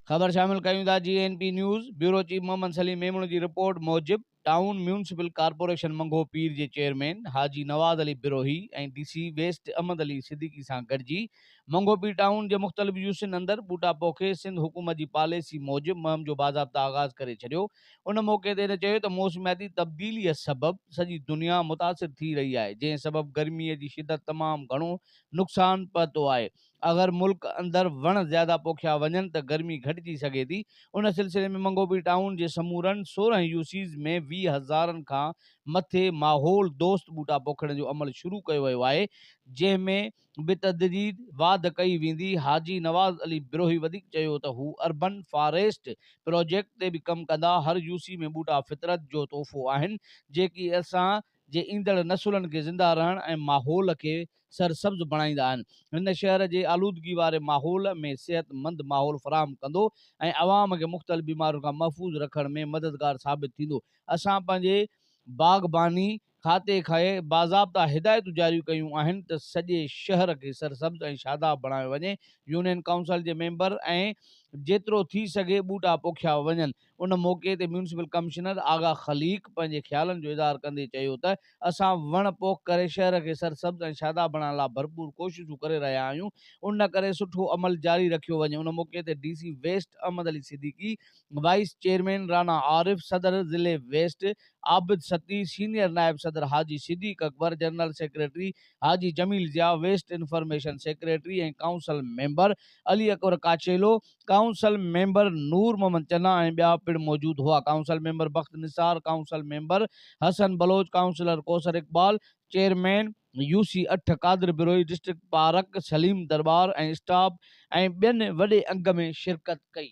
خبر شامل ڪريون ٿا G N P news bureau chief Muhammad Saleem Memon جي رپورٽ موجب town municipal corporation Mangho Pir جي chairman Haji Nawaz Ali Brohi ۽ D C west Ahmed Ali Siddiqui سان گڏجي منگهو پير ٽائون جي مختلف يوسين اندر ٻوٽا پوکي سنڌ حڪومت جي پاليسي موجب مهم جو باضابطه آغاز ڪري ڇڏيو ان موقعي تي هن چيو ته موسمياتي تبديليء سبب سڄي دنيا متاثر ٿي رهي آهي، جنهن سبب گرمي جي شدت تمام گهڻو نقصان پهتو آهي، اگر ملڪ اندر وڻ زياده پوکيا وڃن ته گرمي گهٽجي سگهي ٿي، ان سلسلي ۾ منگوبي ٽائون جي سمورن سورهن يو سيز ۾ ويهه هزارن کان مٿي ماحول دوست ٻوٽا پوکڻ جو عمل شروع ڪيو ويو آهي، جنهن ۾ بتدريج واڌ ڪئي ويندي، حاجي نواز علي بروهي وڌيڪ چيو ته هو اربن فاريسٽ پراجيڪٽ تي به ڪم ڪندا، هر يوسي ۾ ٻوٽا فطرت جو تحفو آهن، جيڪي اسان جي ايندڙ نسلن کي زنده رهڻ ۽ ماحول کي سرسبز بڻائيندا آهن، هن شهر جي آلودگي واري ماحول ۾ صحت مند ماحول فراهم ڪندو ۽ عوام کي مختلف بيمارين کان محفوظ رکڻ ۾ مددگار ثابت ٿيندو، اسان پنهنجي باغباني کاتي کي باضابطا هدايتون جاريون ڪيون آهن ته سڄي شهر کي سرسبز ۽ شاداب بڻايو وڃي، يونين ڪائونسل جي ميمبر ۽ جيترو ٿي سگهي ٻوٽا پوکيا وڃن. ان موقعي تي ميونسپل ڪمشنر آغا خليق پنهنجي خيالن جو اظهار ڪندي چيو ته اسان وڻ پوک ڪري شهر کي سرسبز ۽ شاداب بڻائڻ لاء ڀرپور ڪوششون ڪري رهيا آهيون ان ڪري سٺو عمل جاري رکيو وڃي ان موقعي تي D C west Ahmed Ali Siddiqui, vice chairman Rana Arif, صدر ضلعي ويسٽ عابد سقي، سينيئر نائب صدر Haji Siddiq Akbar, general secretary Haji Jameel Zia, west information secretary ۽ council member Ali Akbar Kachhelo, council member Noor Muhammad Channa ۽ ٻيا پڻ موجود هئا. Council member Bakht Nisar, council member Hassan Baloch, councillor Kausar Iqbal, chairman U C اٺ قادر بروهي، ڊسٽرڪٽ پارڪ سليم درٻار ۽ اسٽاف ۽ ٻين وڏي انگ ۾ شرڪت ڪئي.